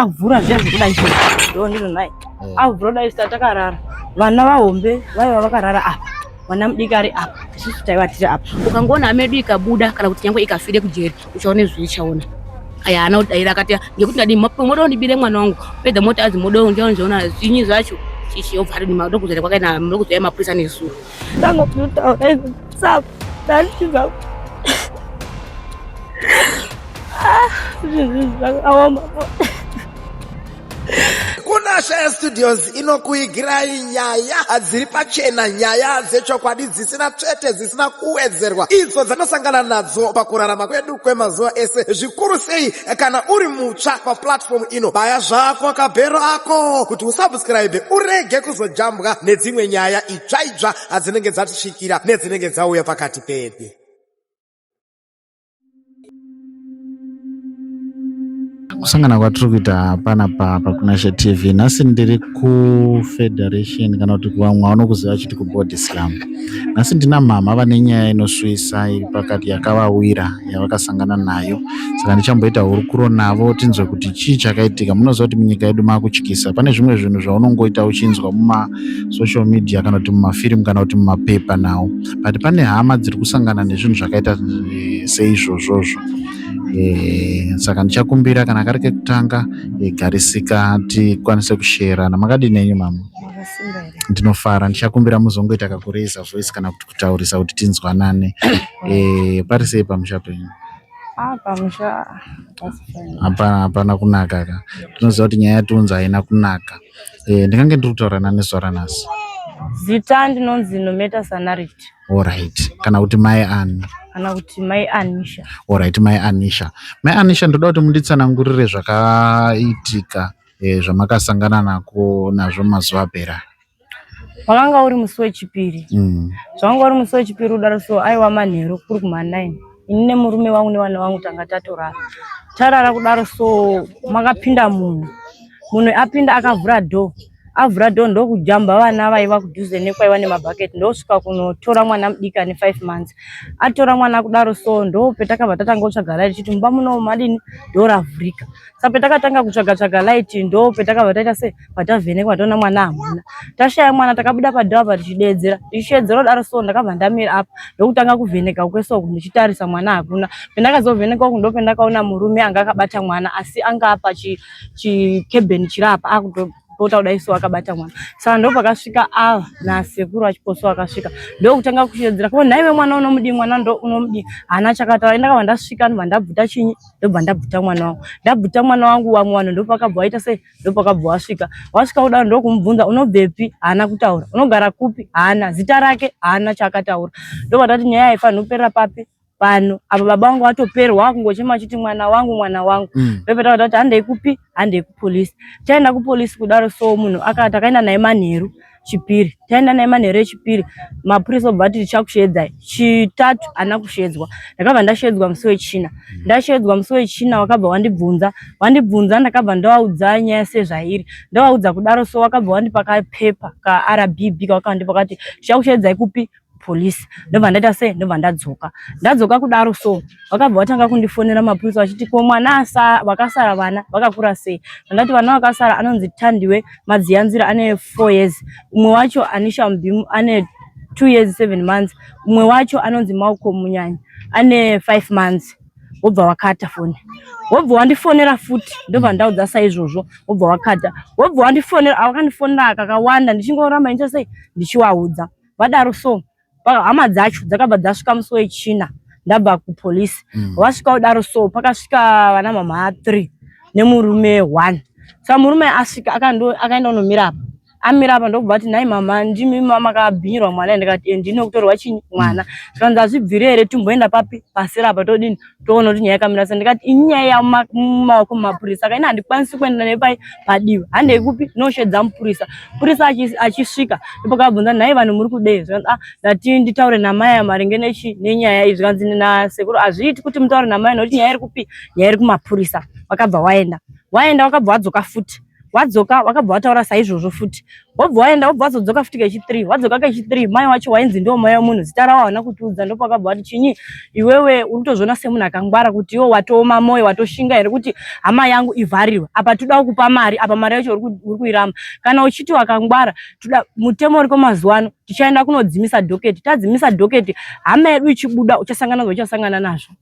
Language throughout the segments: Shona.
avhura zviya zvekudai zvo ndondino nai eh. avhura dai sita takarara vana vahombe vaiva vakarara apa mwana mudiki ari apa isusu taiva tiri apa ukangoona hama yedu ikabuda kana kuti nyangwe ikafire kujeri uchaona izvi ichaona aya ana kudaira akati ngekuti ndadi moda undibire mwana wangu pedza moti azi moda unjaonjaona zvinyi zvacho chichi obva ari ndimauda kuzere kwakaina muda kuzere mapurisa nezuro Ndanga kutotaura izvo saka ndandibva kunashaya studios inokuigirai nyaya hadziri pachena nyaya dzechokwadi dzisina tsvete dzisina kuwedzerwa idzo dzanosangana nadzo pakurarama kwedu kwemazuva ese zvikuru sei kana uri mutsva paplatform ino baya zvako kabhero ako kuti usabscribe urege kuzojambwa nedzimwe nyaya tsvaidzva hadzinenge dzatisvikira nedzinenge dzauya pakati pedu kusangana kwatiri kuita hapana papa kuna she tv nhasi ndiri kufederation kana kuti vamwe vanokuziva chiti kubody slam nhasi ndina mhama vane nyaya inoswisa iri pakati yakavawira yavakasangana nayo saka ndichamboita hurukuro navo tinzwe kuti chii chakaitika munoziva kuti munyika yedu maakutyisa pane zvimwe zvinhu zvaunongoita uchinzwa muma social media kana kuti mumafirimu kana kuti mumapepa nawo but pane hama dziri kusangana nezvinhu zvakaita eh, seizvozvozvo eh, saka ndichakumbira kana kari kekutanga eh, garisika tikwanise kusherana makadii nenyu mama ndinofara ndichakumbira muzongoita kakureza voice kana kuti kutaurisa kuti tinzwanane pari sei pamusha penyu hapana hapana kunaka ka tinoziva kuti nyaya yatiunza haina kunaka Eh, ndikange ndiri kutaura nani sora nhasi zita ndinonzi nometa sanarit orit kana kuti mai ani kana kuti mai anisha orit mai anisha mai anisha ndoda kuti munditsanangurire zvakaitika eh, zvamakasangana nako nazvo mazuva apera wakanga uri musi wechipiri mm. zvawanga uri musi wechipiri udaro so aiwa manheru kuri kuma9 ini nemurume wangu nevana vangu tanga tatorara tarara kudaro so makapinda munhu munhu apinda akavhura door avhura door ndokujamba vana vaiva kudhuze nekwaiva nemabhaketi ndosvika kunotora mwana mudiki ane five months atora mwana kudaro so ndo petakabva tatanga kutsvaga light chiti mumba muno madini door ravhurika sa petakatanga kutsvaga tsvaga light ndo petakabva taita se patavhenekwa toona mwana hamuna tashaya mwana takabuda padhava pa tichideedzera tichishedzera kudaro so ndakabva ndamira apa ndokutanga kuvheneka kwesoko ndichitarisa mwana hakuna pendakazovhenekwa uku ndopendakaona murume anga akabata mwana asi anga apa chikebheni chiri apa akuto pota kudai so akabata mwana saka ndo pakasvika ava nasekuru achiposo akasvika ndokutanga kushedzera ko nhaive mwana unomudii mwana ndo unomudii hana chakataura ndakabva ndasvika ndobva ndabvuta chinyi ndobva ndabvuta mwana wangu ndabvuta mwana wangu vamwe vanhu ndopakabva vaita sei ndopakabva wasvika wasvika kudaro ndokumubvunza unobvepi haana kutaura unogara kupi haana zita rake haana chaakataura ndovatati nyaya haifanhi kuperera papi pano apa baba vangu vatoperwa wakungochema achiti mwana wangu mwana wangu mm. ndopeta vatati handei kupi handei kupolisi chaenda kupolisi kudaro so munhu akati akaenda naye manheru chipiri taenda naye manheru echipiri mapurisa obva ati tichakusheedzai chitatu ana kusheedzwa ndakabva ndasheedzwa musi wechina mm. ndasheedzwa musi wechina wakabva wandibvunza wandibvunza ndakabva ndawaudza nyaya sezvairi ndawaudza kudaro so wakabva wandipa kapepa kaRBB kawakandi pakati tichakusheedzai kupi police ndobva ndaita sei ndobva ndadzoka ndadzoka kudaro so vakabva vatanga kundifonera mapurisa vachiti ko mwana vakasara vana vakakura sei ndandati vana vakasara anonzi tandiwe madziyanzira ane four years umwe wacho anisha mubimu ane two years seven months umwe wacho anonzi mauko munyanya ane five months wobva wakata foni wobva wandifonera futi ndobva ndaudza saizvozvo wobva wakata wobva wandifonera awakandifonera kakawanda ndichingoramba ndichasei ndichiwaudza vadaro so hama dzacho dzakabva dzasvika musi wechina ndabva kupolice mm. vasvika kudaro so pakasvika vana mama three nemurume one sa murume asvika akaenda unomira apa amira apa ndokubva ati nhai mama ndimi makabhinyirwa mwana ndikati eh, ndine kutorwa chii mwana zvikanzi azvibvire here timboenda papi pasera apa todini toona kuti nyaya yakamira sei ndikati ini nyaya yamumaoko mumapurisa ka ini handikwanisi kuenda nei pai padivi handei kupi noshedza mupurisa mupurisa achisvika ndopakabvunza nhai vanhu muri kudei zvikanzi ah ndati nditaure namai maringe nechi nenyaya iyi zvikanzi nasekuru hazviiti kuti mutaure namai nokuti nyaya iri kupi nyaya iri kumapurisa wakabva waenda waenda wakabva wadzoka futi wadzoka wakabva wataura saizvozvo futi wobva waenda wobva wazodzoka futi kechi3 wadzoka kechi3 mai wacho wainzi ndiwo mai wemunhu zita rawo hauna kutiudza ndopa wakabva wati chinyi iwewe uri kutozviona semunhu akangwara kuti iwo watooma moyo watoshinga here kuti hama yangu ivharirwe apa todawo kupa mari apa mari yacho uri kuiramba kana uchiti wakangwara toda mutemo uriko mazuva ano tichaenda kunodzimisa dhoketi tadzimisa dhoketi hama yedu ichibuda uchasangana zvo uchasangana nazvo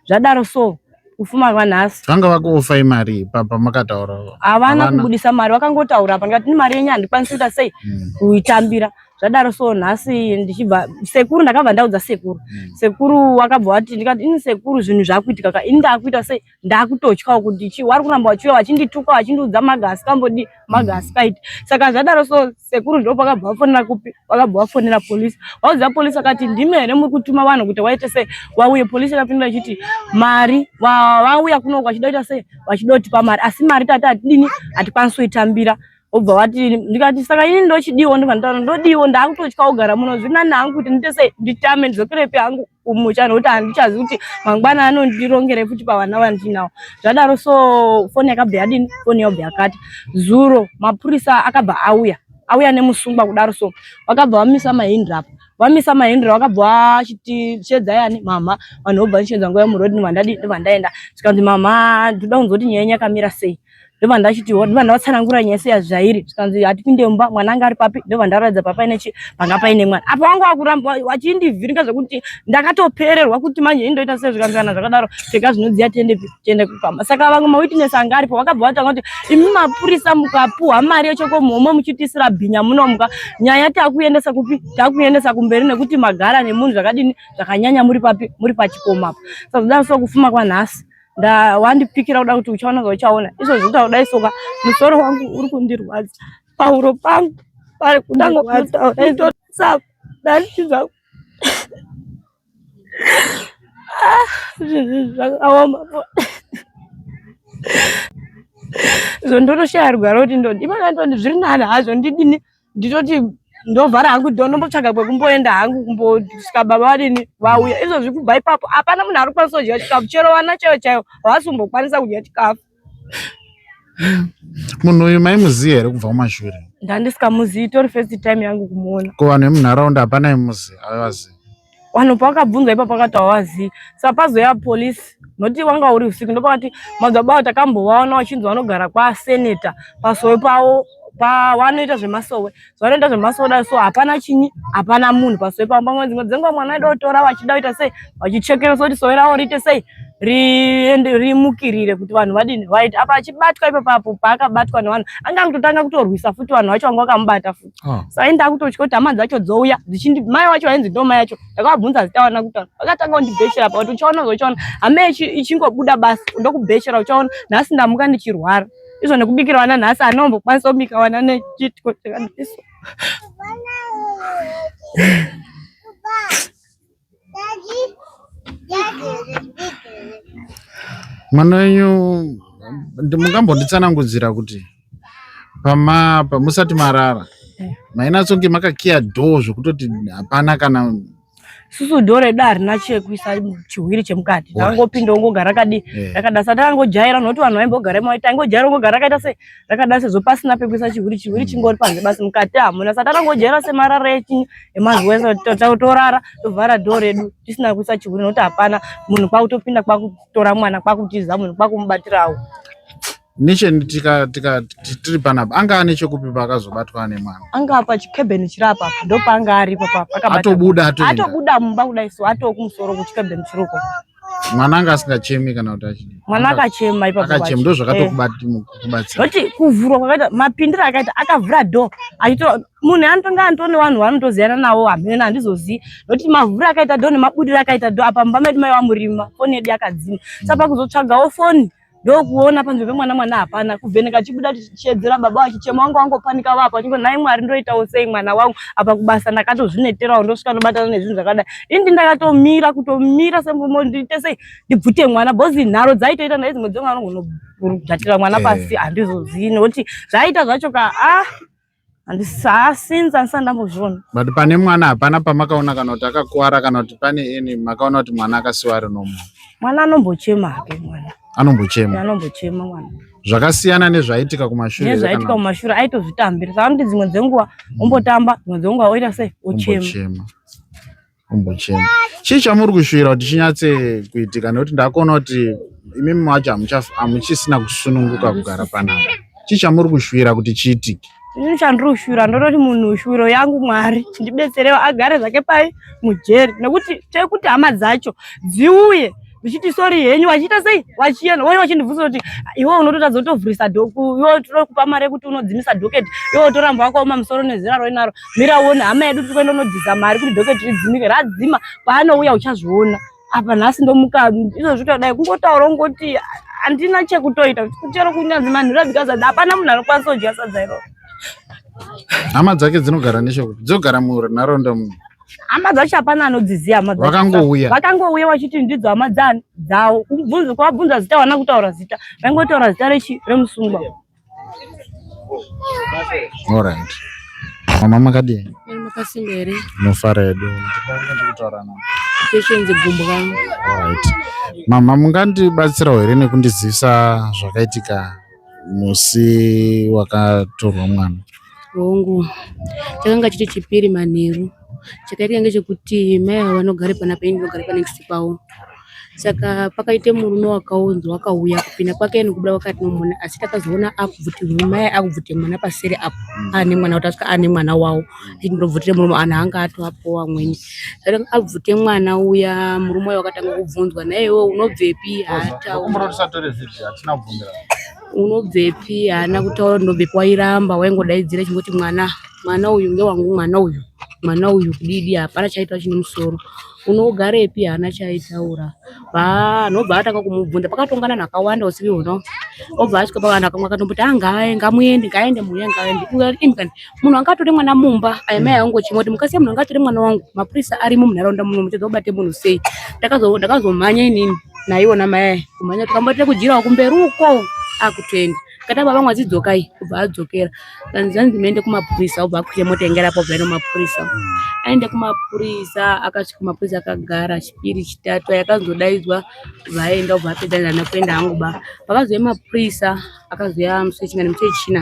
zvadaro so kufuma kwanhasi vanga vakuofa imari ipapa makataura havana kubudisa mari vakangotaura apa ndikati ni mari yenyu handikwanisi kuita sei hmm. kuitambira zvadaro so nhasi ndichibva sekuru ndakabva ndaudza sekuru hmm. sekuru wakabva wati ndikati ini sekuru zvinhu zvakuitika ka ini ndakuita sei ndakutotyawo kuti chi wari kuramba wachiuya wachindituka wachindiudza maga asikambodii magasipaid mm. saka zvadaro so sekuru ndo pakabva vafonera kupi vakabva vafonera polisi vauziva polisi vakati ndimi here muri kutuma vanhu kuti waite sei vauye polisi yakapindura ichiti mari vauya kunoko vachida kuita sei vachida kutipa mari asi mari tati hatidini hatikwanisi kuitambira obva vati ndikati saka ini ndochidiwo ndobva nditaura ndodiwo ndaakutotya kugara muno zviri nani hangu kuti ndiite sei nditame ndizokerepi hangu kumucha nokuti handichazi kuti mangwana anondirongere futi pavana vandinawo zvadaro so foni yakabva yadini foni yabva yakati zuro mapurisa akabva auya auya nemusungwa kudaro so vakabva vamisa mahindri apa vamisa mahindri vakabva vachiti shedza yani mama vanhu vobva ndichedza nguva yemurodini vandadi ndivandaenda zvikanzi mama ndinoda kunzwa kuti nyaya yenyu yakamira sei ndobva ndachitiwo ndobva ndavatsanangura nyese yazvairi zvikanzi hatipinde mumba mwana anga ari papi ndobva ndaratidza papa ine chi panga paine mwana apa wangu wakuramba wachindivhiringa zvekuti ndakatopererwa kuti manje indoita sei zvikanzi kana zvakadaro pfeka zvinodziya tiende tiende kukama saka vamwe mawitness anga aripo vakabva vatanga kuti imi mapurisa mukapuhwa mari yechokomuhomwe muchitisira bhinya munomuka nyaya takuendesa kupi takuendesa kumberi nekuti magara nemunhu zvakadini zvakanyanya muri papi muri pachikomapo saka zodaro so kufuma kwanhasi nda wandipikira kuda kuti uchaona zvauchaona izvo zvita kudai soka musoro wangu uri kundirwadza pahuro pangu pari kudangototsa ndatiza ah, zvakaoma izvo ndotoshaya rugwaro kuti ndodii mangandoni zviri nani hazvo ndidini nditoti ndovhara hangu do ndombotsvaga kwekumboenda hangu kumbosvika baba vadini vauya izvozvi kubva ipapo hapana munhu ari kukwanisa kudya chikafu chero vana chaivo chaivo havasi kumbokwanisa kudya chikafu munhu uyu maimuziva here kubva kumashure ndandisikamuzivi itori first time yangu kumuona ko vanhu vemunharaunda hapana imuzi avazivi vanhu pavakabvunzwa ipapo vakati havazivi sa pazoya police noti wanga uri usiku ndopakati madzibaba avo takambovaona vachinzi vanogara kwaseneta pasowe pavo pavanoita zvemasowe zvavanoita zvemasowe dai so hapana chinyi hapana munhu pasowe pavo pamwe dzimwe dzenguva mwana aida kutora vachida kuita sei vachichekera soti sowe ravo riite sei rimukirire kuti vanhu vadini vaiti apa achibatwa ipapapo paakabatwa nevanhu anga akutotanga kutorwisa futi vanhu vacho vanga vakamubata futi Ah. Saka ini ndakutotya kuti hama dzacho dzouya dzichindi mai wacho ainzi ndo mai yacho ndakavabvunza zita wana kutaura vakatanga kundibhechera pa kuti uchaona uzochaona hama ichingobuda basi ndokubhechera uchaona nhasi ndamuka ndichirwara izvo nekubikira wana nhasi anombokwanisa kubika wana nechitiko chakadiso mwana wenyu mungambonditsanangudzira kuti pama pamusati marara eh. mainatsonge makakiya dhoo zvekutoti hapana kana susu dhoo redu harina chekuisa chihwiri chemukati ndangopinda ongogara rakadii eh. rakadasa tangojaira nokuti vanhu vaimbogara maita aingojaira ongogara rakaita se zvakadaro sezvo pasina pekuisa chihuri chihuri chingori panze basi mukati hamuna sati atangojaira semarara echinyi emazuva ese torara tovhara dho redu tisina kuisa chihuri nokuti hapana munhu kwakutopinda kwakutora mwana kwakutiza munhu kwakumubatirawo necheni tiri panapa anga ane chekupi paakazobatwa ane mwana anga apa chikebheni chiri apa ndopaanga aripo paatobuda atobuda mumba kudai so atoo kumusoro kuchikebheni chiriko mwana anga asingachemi kana kuti achii mwana akachema ipaakachema ndo zvakatokubatsira eh. kuvhurwa kwakaita mapindiro akaita akavhura do achito munhu anotonga anto nevanhu vanotoziyana navo hamena handizozivi nokuti mavhura akaita do nemabudiro akaita do apa mumba medu maiva murima foni yedu yakadzima saka pakuzotsvagawo foni ndokuona panze pemwana mwana hapana kuvheneka chibuda chichedzera baba wachichema wanga wangopanika vapo achingo nhai mwari ndoitawo sei mwana wangu apa kubasa ndakatozvineterawo ndosvika ndobatana nezvinhu zvakadai indi ndakatomira kutomira sembomo ndiite sei ndibvute mwana bozi nharo dzaitoita ndai dzimwe dzemwana anogona kughatira mwana eh. pasi handizozii nekuti zvaiita zvacho ka ah handisasinza andisati ndambozviona but pane mwana hapana pamakaona kana kuti akakuwara kana kuti pane ini makaona kuti mwana akasiwa ari nomo mwana anombochema hake mwana anombochema anombochema mwana zvakasiyana nezvaitika kumashure nezvaitika kumashure aitozvitambira saka kuti dzimwe dzenguva ombotamba dzimwe dzenguva oita sei ochema kumbochema chii chamuri kushuvira kuti chinyatse kuitika nekuti ndakuona kuti imimi macho hamuchisina kusununguka kugara panapa chii chamuri kushuvira kuti chiitike ini chandiri kushuvira ndototi munhu shuviro yangu mwari ndibetserewo agare zvake pai mujeri nekuti tekuti hama dzacho dziuye ndichiti sorry henyu vachiita sei vachienda vouya vachindibvunza kuti iwe unototadza kutovhurisa dhoku iwe tinokupa mari yekuti unodzimisa dhoketi iwe utoramba wakaoma musoro nezera roinaro mira uone hama yedu tiri kuenda unodhiza mari kuti dhoketi ridzimike radzima paanouya uchazviona apa nhasi ndomuka izvo zvitodai kungotaura ungoti handina chekutoita chero kunyanzi manhu rabika sadza hapana munhu anokwanisa kudya sadza iroro hama dzake dzinogara nechekuti dzogara munharaunda muno hama dzacho hapana anodziziva hama vakangouya vakangouya vachiti ndidzo hama dzavo kubvunza kwavabvunza zita vana kutaura zita vaingotaura zita rechi remusungwa alright mama makadii makasimba here nofara hedu ndikutaura navo ndichenze gumbo vangu alright mama mungandibatsirawo here nekundizivisa zvakaitika musi wakatorwa mwana hongu chakanga chiri chipiri manheru chakaitika ngechekuti mai ava vanogare pana paini ndinogare panext pavo saka pakaite murume wakaunzwa akauya kupinda kwake nekubuda kwake atinomuona asi takazoona akubvutirwa mai akubvuta mwana paseri apo aane mwana kuti asvika aane mwana wavo achiti ndobvutire murume anhu anga atoapowa amweni zvati abvute mwana uya murume uya wakatanga kubvunzwa naiyewo unobvepi unobvepi haana kutaura kuti ndobvepi wairamba waingodaidzira chingoti mwana mwana uyu ngewangu mwana uyu mwana uyu kudidi hapana chaitwa chine musoro Unogarepi haana chaaitaura. Haa anhu obva atanga kumubvunza pakatonga nanhu akawanda usiku ihwono obva asvika pavanhu akamwe akatomboti haa ngaave ngamuende ngaende mhuri yangu ngaende Ndikati, "Imi kani munhu anga atore mwana mumba aya mai angu chimwe kuti mukasiya munhu anga atore mwana wangu mapurisa arimo munharaunda muno muchadza kubate munhu sei Ndakazo- ndakazomhanya inini naiona mai aya kumhanya tikamboita kujirawo kumberi uko akutoenda Kata baba mwazi dzokai kubva adzokera kanzi zvanzi muende kumapurisa obva akwira mota inge rapo bva nomapurisa aende kumapurisa akasvika kumapurisa akagara chipiri chitatu yakazodaidzwa vaenda obva apedza ndana kuenda hangu ba pakazouya mapurisa akazouya musi wechingani musi wechina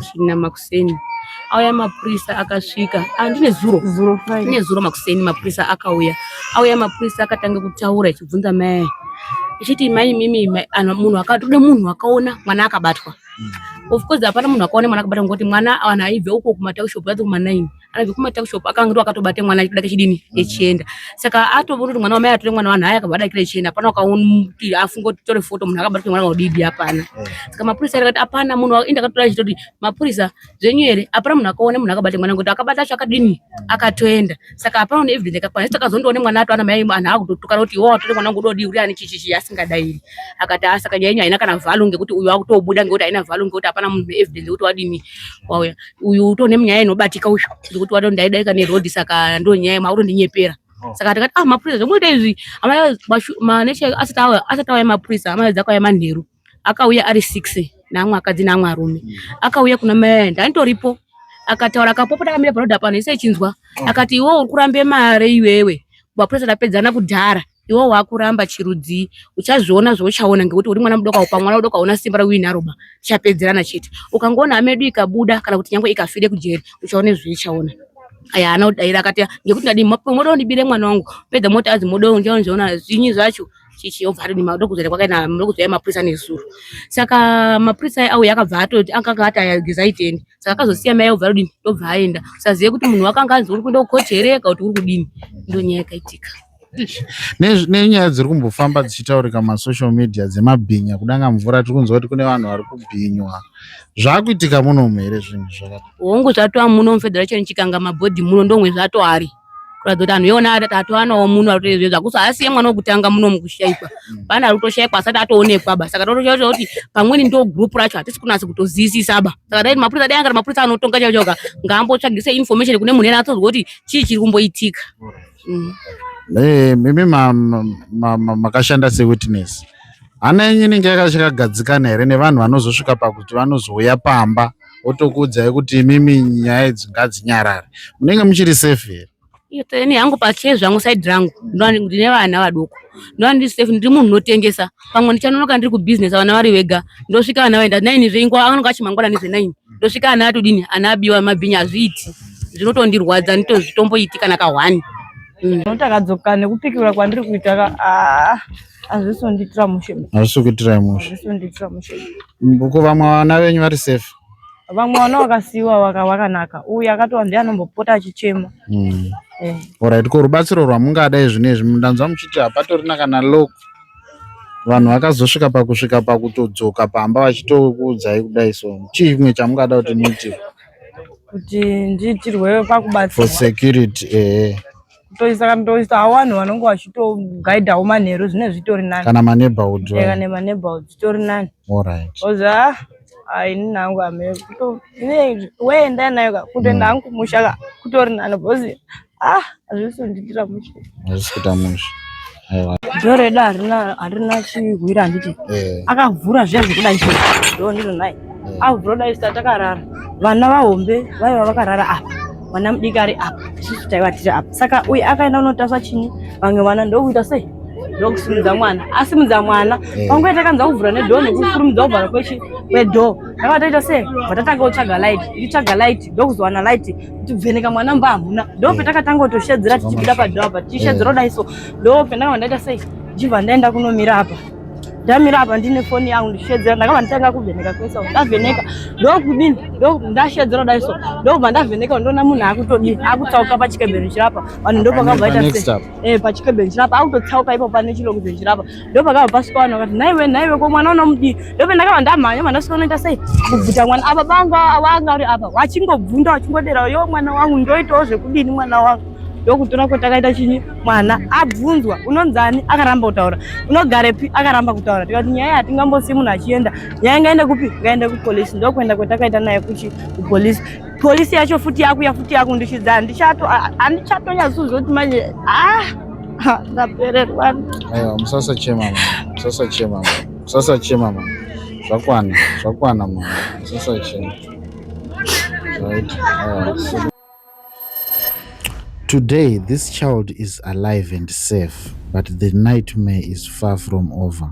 china makusi makuseni auya mapurisa akasvika ah, ndine zuro ndine zuro makuseni mapurisa akauya auya mapurisa akatanga kutaura ichibvunza mai ichiti mai mimi munhu akatode munhu akaona mwana akabatwa mm. of course hapana munhu akaona mwana akabatwa ngokuti mwana anhu aibve uko kumataushopu yati kumanaini anobva kumata kushop akanga ndo akatobata mwana achida kechidini mm. echienda saka atoona kuti mwana wamai atore mwana wanhu aya akabva adakira echienda hapana ukamuti afunga kuti tore foto munhu akabatwa mwana waudidi hapana eh. saka mapurisa akati hapana munhu enda akatora chito kuti mapurisa zvenyu here hapana munhu akaona munhu akabata mwana ngoti akabata acho akadini akatoenda saka hapana une evidence yakakwana saka azondoone mwana ato ana mai anhu akutotukana kuti iwo atore mwana ngudodi uri ani chichichi asingadairi akati asaka nyaya yenyu haina kana vhalu ngekuti uyu akutobuda ngekuti haina vhalu ngekuti hapana munhu evidence yekuti wadini wauya uyu uto nemunyaya inobatika uyu ndikuti wato ndaidaika neroad saka ndo nyaya mauro ndinyepera oh. saka tikati ah mapurisa zvomuita izvi maneche asati auya mapurisa amaedza akauya manheru akauya ari six neamwe akadzi neamwe arume mm. akauya kuna mai ayo ndanitoripo akataura akapopota akamira panoda pano ise ichinzwa oh. akati iwe uri kurambe mare iwewe mapurisa tapedzana kudhara iwo wakuramba chirudzii uchazviona zvauchaona ngekuti uri mwana mudoko pa mwana mudoko hauna simba rauina roba tichapedzerana chete ukangoona hama yedu ikabuda kana kuti nyangwe ikafire kujeri uchaona zvaichaona aya ana kudaira akati ngekuti ndadii moda undibire mwana wangu pedza moti azi moda unjaonjaona zvinyi zvacho chichi yobva atoti madokuzere kwakaina madokuzere mapurisa nezuro saka mapurisa auya akabva atoti akanga ati ayageza itende saka akazosiya mai obva atodini ndobva aenda usazive kuti munhu wakanga anzi uri kuenda kukoti here kana kuti uri kudini ndonyaya yakaitika nenyaya dziri kumbofamba dzichitaurika masocial media dzemabhinya kudanga mvura tiri kunzwa kuti kune vanhu vari kubhinywa zvakuitika munomu here zvinhu zvakati hongu zvatova muno mufederation chikanga mabhodhi muno ndomwe zvatoari kuratidza kuti anhu iona atovanawo muno aritoezve zvakuso haasiye mwana wekutanga muno mukushaikwa mm. pane ari kutoshaikwa asati atoonekwa ba saka totoshaa kuti pamweni ndo group racho hatisi kunasa kutoziyisisa ba saka taiti mapurisa dai angati mapurisa anotonga chaichoka ngaambotsvagise information kune munhu ena atozwa kuti chii chiri kumboitika mm. hey, eh, mimi makashanda ma, ma, ma sewitness hana yenyu inenge yakachakagadzikana here nevanhu vanozosvika pakuti vanozouya pamba otokuudzai kuti imimi nyaya idzi ngadzinyarare munenge muchiri safe here ini hangu pake zvangu side rangu ndine vana vadoko ndovandiri safe ndiri munhu unotengesa pamwe ndichanonoka ndiri kubusiness vana vari vega ndosvika vana vaenda nine zveingwa anonga achimangwana nezvenaini ndosvika ana atodini ana abiwa mabhinya azviiti zvinotondirwadza nditozvitomboiti kana kahwani mm. takadzoka nekupikirwa kwandiri kuita ka ah, hazvisi kundiitira mushe hazvisi kuitira mushe hazvisi kundiitira mushe ko vamwe vana venyu vari safe vamwe vana vakasiiwa wakanaka uyu akatova ndiye anombopota achichema mm. eh. orit ko rubatsiro rwamungadai zvino izvi ndanzwa muchiti hapatorina kana loko vanhu vakazosvika pakusvika pakutodzoka pamba vachitokuudzai kudai so chii chimwe chamungada kuti muitirwe kuti ndiitirwe pakubatsira for security eh kutoisa kana toisa vanhu vanenge vachitogaidhawo manheru zvinenge zvitori nani kana maneighborhood eh, kana maneighborhood zvitori nani alright oza ah, ah, ini nangu ame kuto weenda nayo kutoenda hangu kumusha kutori nani because Ah, hazvisi kundiitira mushe. Hazvisi kuita mushe. Aiwa. Door redu harina harina chihwira handiti. Eh. Akavhura zviya zvekudai izvo. Door ndiro naye. Eh. Avhura dai sita takarara. Vana vahombe vaiva vakarara apa. Vana mudiki ari apa. Isusu taiva tiri apa. Saka uye akaenda kunotasva chini? Vamwe vana ndokuita sei? ndokusimudza mwana asimudza mwana eh. pangu yatakanza kuvhura nedhoo nekukurumidza kuvhara kwedhoo ndakavataita sei vatatanga kutsvaga light ndichitsvaga light ndokuzowana light kuvheneka mwana mba hamuna ndo eh. patakatanga kutoshedzera tichibuda padhoo apa tichishedzera kudai eh. so ndo pandakabva ndaita sei jibva ndaenda kunomira apa ndamira apa ndine foni yangu ndichishedzera ndakabva nditanga kuvheneka kwese ndavheneka ndokudini ndashedzera kudai so ndokubva ndavheneka ndoona munhu akutodii akutsauka pachikebheni chirapa vanhu ndopakabva ita sei eh, pachikebheni chirapa akutotsauka ipo pane chilokubheni chirapa ndopakabva pasvika vanhu vakati nhaiwe nhaiwe ko mwana unomudii ndope ndakabva ndamhanya mwana svika unoita sei kubvuta mwana apa bangu awanga uri apa wachingobvunda wachingodera yo mwana wangu ndoitawo zvekudini mwana wangu ndokutora kuti akaita chinyi mwana abvunzwa unonzani akaramba kutaura unogarepi akaramba kutaura tikati nyaya hatingambosiyi munhu achienda nyaya ingaende kupi ngaende kupolisi ndokuenda kwetakaita naye kuchi kupolisi polisi yacho futi yakuya futi yakundishidza handichato handichatonyazozoti manje ah ndapererwa aiwa musasachema mama musasachema mama musasachema mama zvakwana zvakwana mama musasachema right aiwa Today, this child is alive and safe, but the nightmare is far from over.